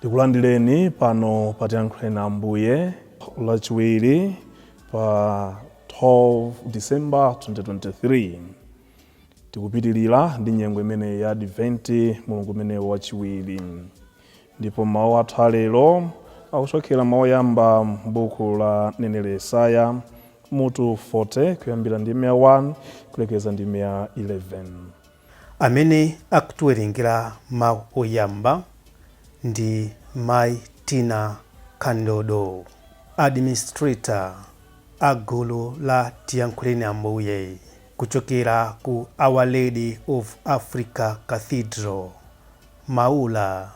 Tikulandireni pano pa Tiyankhuleni Ambuye, Lachiwiri pa 12 December 2023. Tikupitirira ndi nyengo imeneyi ya Adventi, mulungu umenewu wachiwiri. Ndipo mawu athu alero akuchokera mawu oyamba m'buku la mneneri Yesaya, mutu 40, kuyambira ndime ya 1 kulekeza ndime ya 11. Amene akutiwerengera mawu oyamba ndi Mayi Tina Kandodo, Administrator a gulu la Tiyankhuleni Ambuye kuchokera ku Our Lady of Africa Cathedral, Maula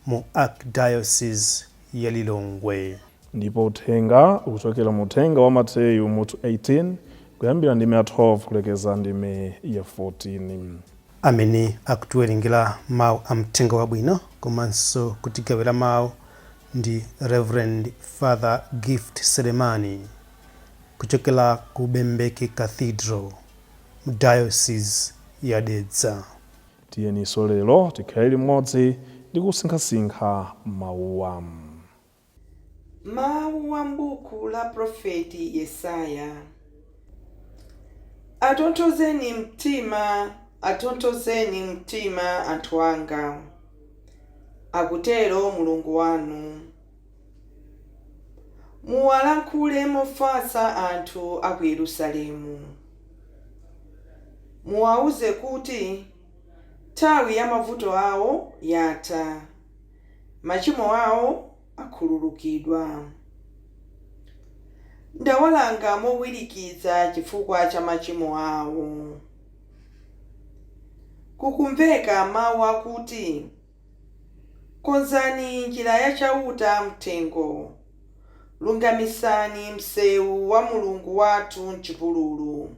mu Archdiocese ya Lilongwe. Ndipo uthenga ukuchokera mu mthenga wa Mateyu mutu 18 kuyambira ndime ya 12 kulekeza ndime ya 14. Amene akutiwerengera mau a Mthenga Wabwino komanso kutigawira mau ndi Reverend Father Gift Selemani kuchokera ku Bembeke Cathedral mu Diocese ya Dedza. Tiyeninso lero tikhale limodzi ndi kusinkhasinkha mauwa. Mawu a m'buku la Profeti Yesaya. Atonthozeni mtima, atonthozeni mtima anthu anga, akutero Mulungu wanu. Muwalankhule mofatsa anthu a ku Yerusalemu. Muwauze kuti, Nthawi ya mavuto awo yatha. machimo awo akhululukidwa. Ndawalanga mowirikiza chifukwa cha machimo awo. Kukumveka mau akuti, Konzani njira ya Chauta m'thengo, lungamisani mseu wa Mulungu wathu m'chipululu.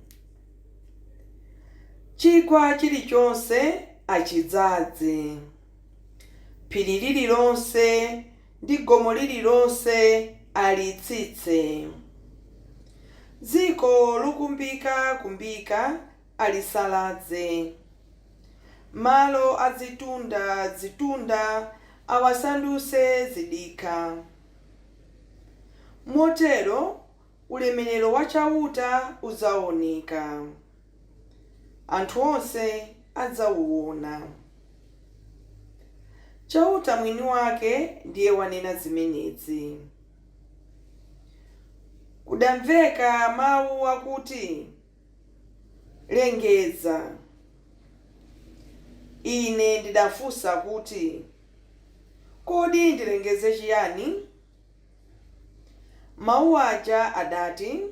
Chigwa chilichonse achidzaze. Phiri lililonse ndi gomo lililonse alitsitse. Dziko lokumbikakumbika alisalaze. Malo a zitunda zitunda awasandutse zidikha. Motero ulemerero wa Chauta udzaoneka, anthu onse adzauwona. Chauta mwini wake ndiye wanena zimenezi. Kudamveka mau akuti, Lengeza. Ine ndidafunsa kuti, Kodi ndilengeze chiyani? Mawu aja adati,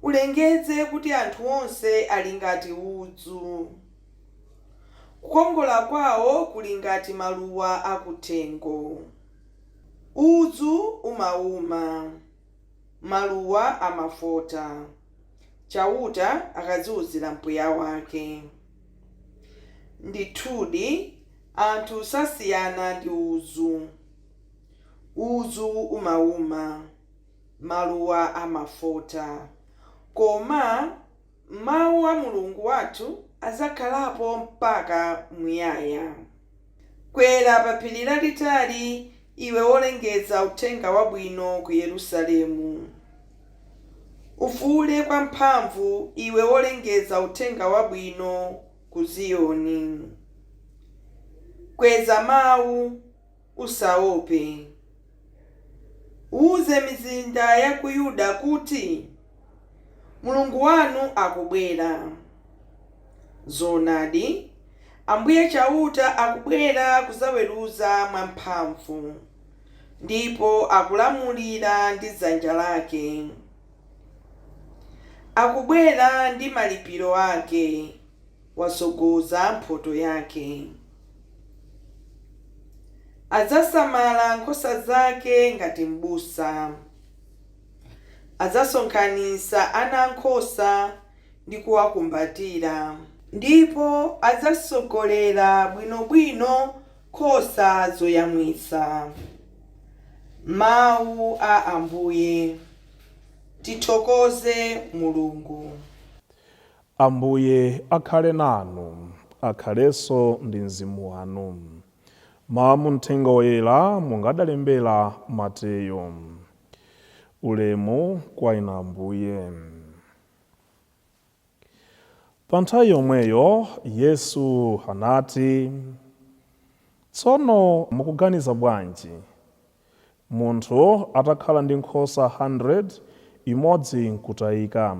Ulengeze kuti anthu onse ali ngati udzu. Kukongola kwawo kuli ngati maluwa akuthengo. Udzu umauma, maluwa amafota, Chauta akaziuzira mpweya wake. Ndithudi, anthu sasiyana ndi udzu. Udzu umauma, maluwa amafota, koma Mawu a Mulungu wathu adzakhalapo mpaka muyaya. Kwera pa phiri lalitali, iwe wolengeza Uthenga Wabwino ku Yerusalemu. Ufuule kwamphamvu, iwe wolengeza Uthenga Wabwino ku Ziyoni. Kweza mawu. Usaope. Uuze mizinda ya ku Yuda kuti, Mulungu wanu akubwera. Zoonadi, Ambuye Chauta akubwera kudzaweruza mwamphamvu, ndipo akulamulira ndi dzanja lake. Akubwera ndi malipiro ake. watsogoza mphotho yake. Adzasamala nkhosa zake ngati m'busa. Adzasonkhanitsa ana a nkhosa ndi kuwakumbatira. Ndipo adzatsogolera bwinobwino nkhosa zoyamwitsa. Mawu a Ambuye. Tithokoze Mulungu. Ambuye akhale nanu. Akhalenso ndi mzimu wanu. Mawu a mu Mthenga Woyera monga adalembera Mateyo. Ulemu kwa Inu Ambuye. Pa nthawi yomweyo Yesu anati, Tsono mukuganiza bwanji? Munthu atakhala ndi nkhosa 100, imodzi n'kutayika,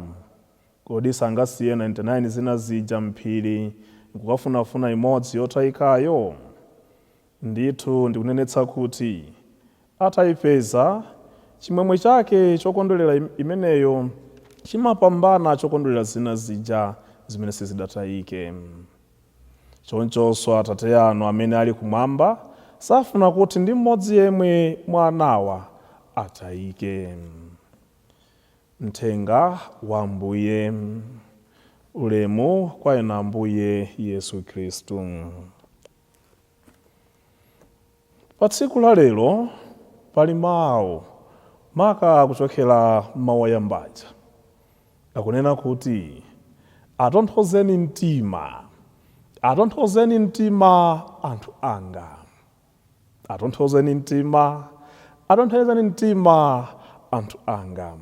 kodi sangasiye 99 zina zija m'phiri n'kukafunafuna imodzi yotayikayo? Ndithu ndikunenetsa kuti ataipeza, chimwemwe chake chokondwerera imeneyo chimapambana chokondwerera zina zija zimene sizidatayike. Chonchonso Atate anu amene ali kumwamba safuna kuti ndi mmodzi yemwe mwa anawa atayike. Mthenga wa Ambuye. Ulemu kwa Inu Ambuye Yesu Khristu. Pa tsiku la lero pali mau maka kuchokera m'mau oyamba aja akunena kuti atonthozeni mtima, atonthozeni mtima anthu anga, atonthozeni mtima, atonthozeni mtima anthu anga.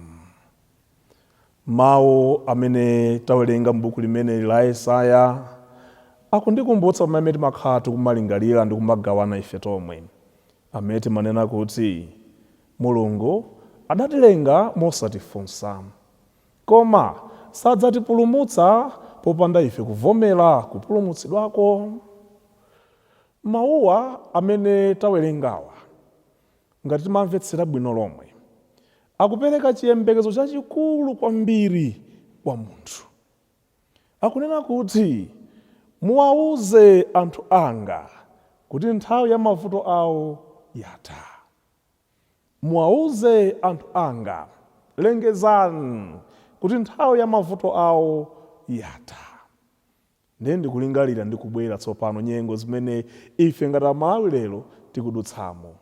Mawu amene tawerenga m'buku limeneli la Yesaya akundikumbutsa pamene timakhala tikumalingalira ndi kumagawana ife tomwe, amene timanena kuti, Mulungu adatilenga mosatifunsa. Koma sadzatipulumutsa popanda ife kuvomera kupulumutsidwako. Mawuwa amene tawerengawa Ngati timamvetsera bwino lomwe, akupereka chiyembekezo chachikulu kwambiri kwa munthu. Akunena kuti, Muwauze anthu anga kuti nthawi ya mavuto awo yatha. Muwauze anthu anga, lengezani, kuti nthawi ya mavuto awo yatha. Ndiye ndikulingalira ndi kubwera tsopano nyengo zimene ife ngati Amalawi lero tikudutsamo,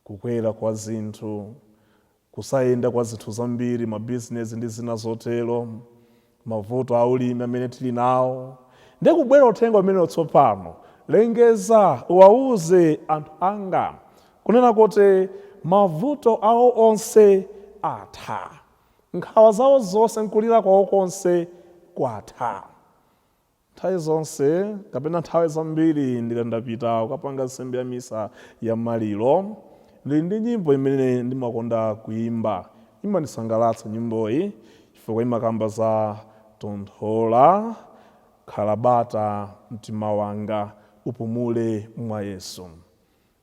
kukwera kwa zinthu, kusayenda kwa zinthu zambiri, mabizinesi ndi zina zotero, mavuto a ulimi amene tili nawo. Ndiye kubwera uthenga umenewo tsopano, Lengeza, uwauze anthu anga, kunena kuti mavuto awo onse atha. Nkhawa zawo zonse n'kulira kwawo konse kwatha. Nthawi zonse kapena nthawi zambiri ndikati ndapita kukapanga nsembe ya misa ya maliro, ndili ndi nyimbo imene ndimakonda kuimba. Imandisangalatsa nyimboyi chifukwa imakamba za Tonthola, khala bata mtima wanga, upumule mwa Yesu.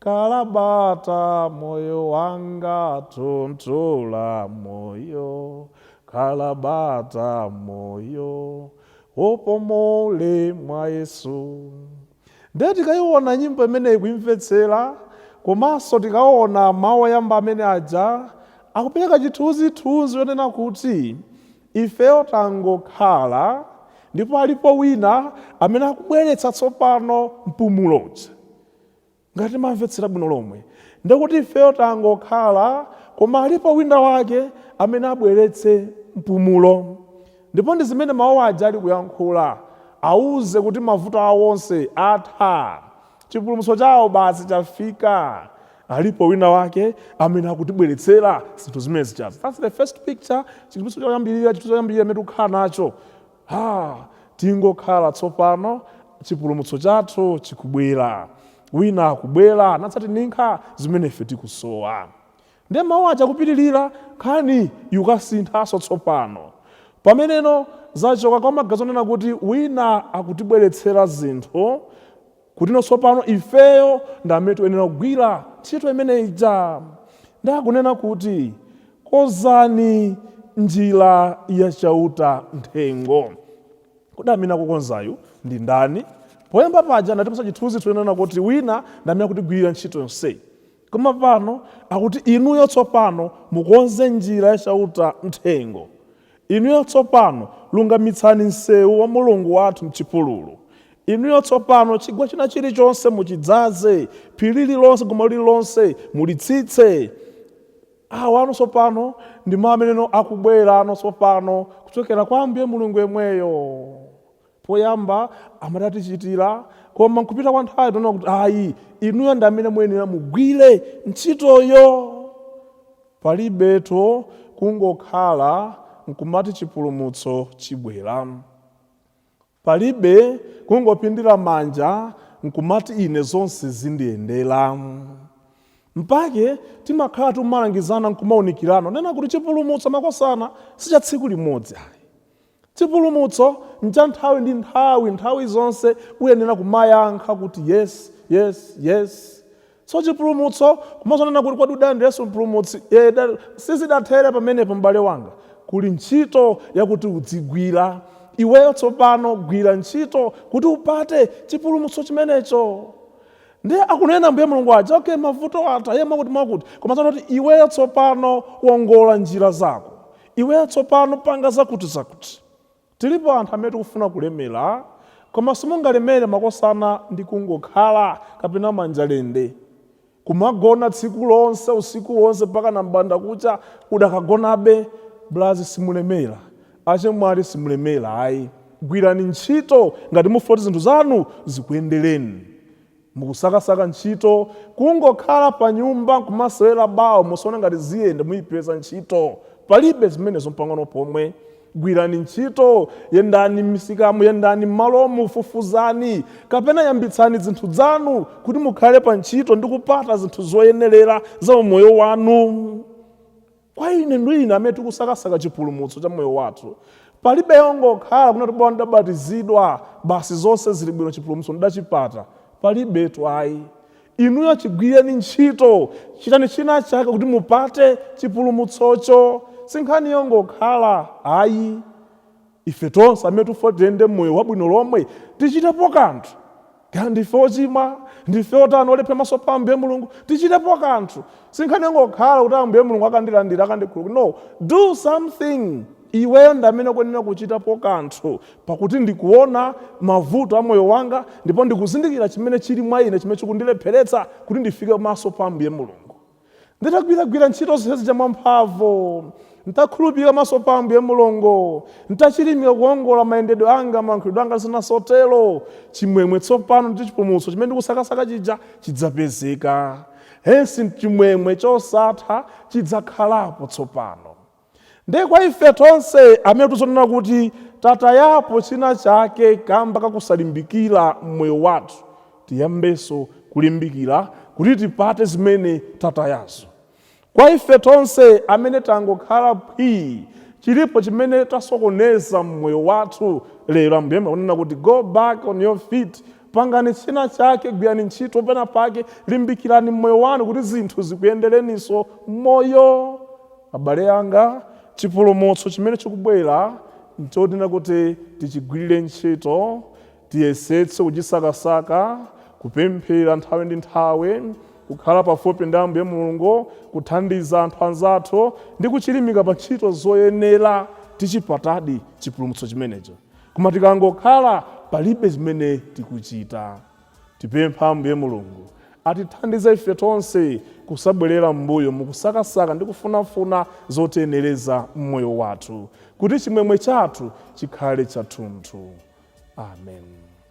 Khala bata moyo wanga tonthola moyo Khala bata moyo upumule mwa Yesu nde tikayiona nyimbo imeneyi kuimvetsera komanso tikaona mawu oyamba amene aja akupereka chithunzithunzi chonena kuti Ifeyo tangokhala, ndipo alipo Wina amene akubweretsa tsopano mpumulo uja. Ngati mamvetsera bwino lomwe, ndi kuti ifeyo tangokhala, koma alipo Wina wake amene abweretse mpumulo. Ndipo ndi zimene Mawu aja ali kuyankhula, awuze kuti mavuto awo onse atha. Chipulumutso chawo basi chafika. Alipo wina wake amene akutibweretsera zinthu zimenezi. That's the first picture, chithunzi choyambirira, chinthu choyambirira chimene tikukhala nacho. Ha, tingokhala tsopano, chipulumutso chathu chikubwera. Wina akubwera nadzatininkha zimene ife tikusowa. Nde mawu aja kupitilira, nkhani ikusinthanso tsopano. Pameneno zachoka kwa maganizo onena kuti wina akutibweretsera zinthu kutino tsopano ifeyo ndi amene tuyenera kugwira ntchito imene ija. Nde akunena kuti konzani njira ya Chauta m'thengo. Kodi amene akukonzayu ndi ndani? Poyamba paja anatipatsa chithunzi chonena kuti wina ndi amene akutigwirira ntchito yonseyi. Koma pano akuti, Inuyo tsopano mukonze njira ya Chauta m'thengo. Inuyo tsopano lungamitsani mseu wa Mulungu wathu m'chipululu. Inuyo tsopano chigwa china chilichonse muchidzaze, phiri lililonse, gomo lililonse, mulitsitse. Awa tsopano ndi mau amene akubwerawo tsopano kuchokera kwa Ambuye Mulungu yemweyo. Poyamba amati atichitira koma nkupita kwa nthawi akuti ayi inuyo ndi amene muyenera mugwire ntchitoyo. Palibetu kungokhala nkumati chipulumutso chibwera. Palibe kungopindira manja nkumati ine zonse zindiyendera. Mpake timakhala tikumalangizana nkumaunikirana kunena kuti chipulumutso makosana si cha tsiku limodzi ayi. Chipulumutso ncha nthawi ndi nthawi, nthawi zonse uyenera kumayankha kuti yes, yes, yes. So chipulumutso kumangonena kuti kodi udalandira Yesu Mpulumutsi? Eeda, sizidathere pamenepo m'bale wanga. Kuli ntchito yakuti udzigwira. Iweyo tsopano gwira ntchito kuti upate chipulumutso chimenecho. Ndiye akunena Ambuye Mulungu aja, okay, mavuto atha, yeah, mwakuti mwakuti, koma zoona kuti iweyo tsopano wongola njira zako. Iweyo tsopano panga zakutizakuti. Tilipo anthu amene tikufuna kulemera, koma simungalemere makosana ndi kungokhala kapena manja lende. Kumagona tsiku lonse, usiku wonse mpakana m'bandakucha udakagonabe. Blazi simulemera, achemwali simulemera ayi. Gwirani ntchito ngati mufuna kuti zinthu zanu zikuyendereni. Mukusakasaka ntchito? Kungokhala panyumba kumasewera bawo muzaona ngati ziyende muipeza ntchito? Palibe zimenezo mpang'ono pomwe. Gwirani ntchito, yendani m'misikamu, yendani m'malomu, fufuzani kapena yambitsani dzinthu dzanu kuti mukhale pantchito ndi kupata zinthu zoyenerera za umoyo wanu. Kwa ine ndi inu amene tikusakasaka chipulumutso cha moyo wathu, palibe yongokhala kunena kuti bola ndidabatizidwa, basi zonse zili bwino chipulumutso ndidachipata. Palibetu ayi. Inuyo chigwireni ntchito, chitani china chake kuti mupate chipulumutsocho. Si nkhani yongokhala ayi. Ife tonse amene tikufuna kuti tiyende moyo wabwino lomwe, tichitepo kanthu. Kaya ndife ochimwa, ndife otani, olephera maso pa Ambuye Mulungu, tichitepo kanthu. Si nkhani yongokhala kuti Ambuye Mulungu akandilandira, akandikhululukira. No, do something! Iweyo ndi amene ukuyenera kuchitapo kanthu, pakuti ndikuona mavuto a moyo wanga ndipo ndikuzindikira chimene chili mwa ine chimene chikundilepheretsa kuti ndifike maso pa Ambuye Mulungu. Nditagwiragwira ntchito zonse zija mwamphamvu, ntakhulupirika maso pa Ambuye Mulungu, ntachilimika kuwongola mayendedwe anga, malankhulidwe anga ndi zina zotero, chimwemwe tsopano ndi chipulumutso chimene ndikusakasaka chija chidzapezeka, hence chimwemwe chosatha chidzakhalapo tsopano. Ndiye kwa ife tonse amene tikuziona kunena kuti tatayapo china chake kamba kakusalimbikira mmoyo wathu, tiyambenso kulimbikira kuti tipate zimene tatayazo. Kwa ife tonse amene tangokhala phwii chilipo chimene tasokoneza mmoyo wathu lero Ambuye akunena kuti go back on your feet Pangani china chake, gwirani ntchito pena pake, limbikirani mmoyo wanu kuti zinthu zikuyendereninso mmoyo. Abale anga, chipulumutso chimene chikubwera nchonena kuti tichigwirire ntchito, tiyesetse kuchisakasaka, kupemphera nthawi ndi nthawi, kukhala pafupi ndi Ambuye Mulungu, kuthandiza anthu anzathu, ndi kuchilimika pa ntchito zoyenera. Tichipatadi chipulumutso chimenecho. Koma tikangokhala palibe zimene tikuchita. Tipempha Ambuye Mulungu atithandize ife tonse kusabwerera m'mbuyo mukusakasaka ndi kufunafuna zotiyenereza m'moyo wathu, kuti chimwemwe chathu chikhale chathunthu. Amen.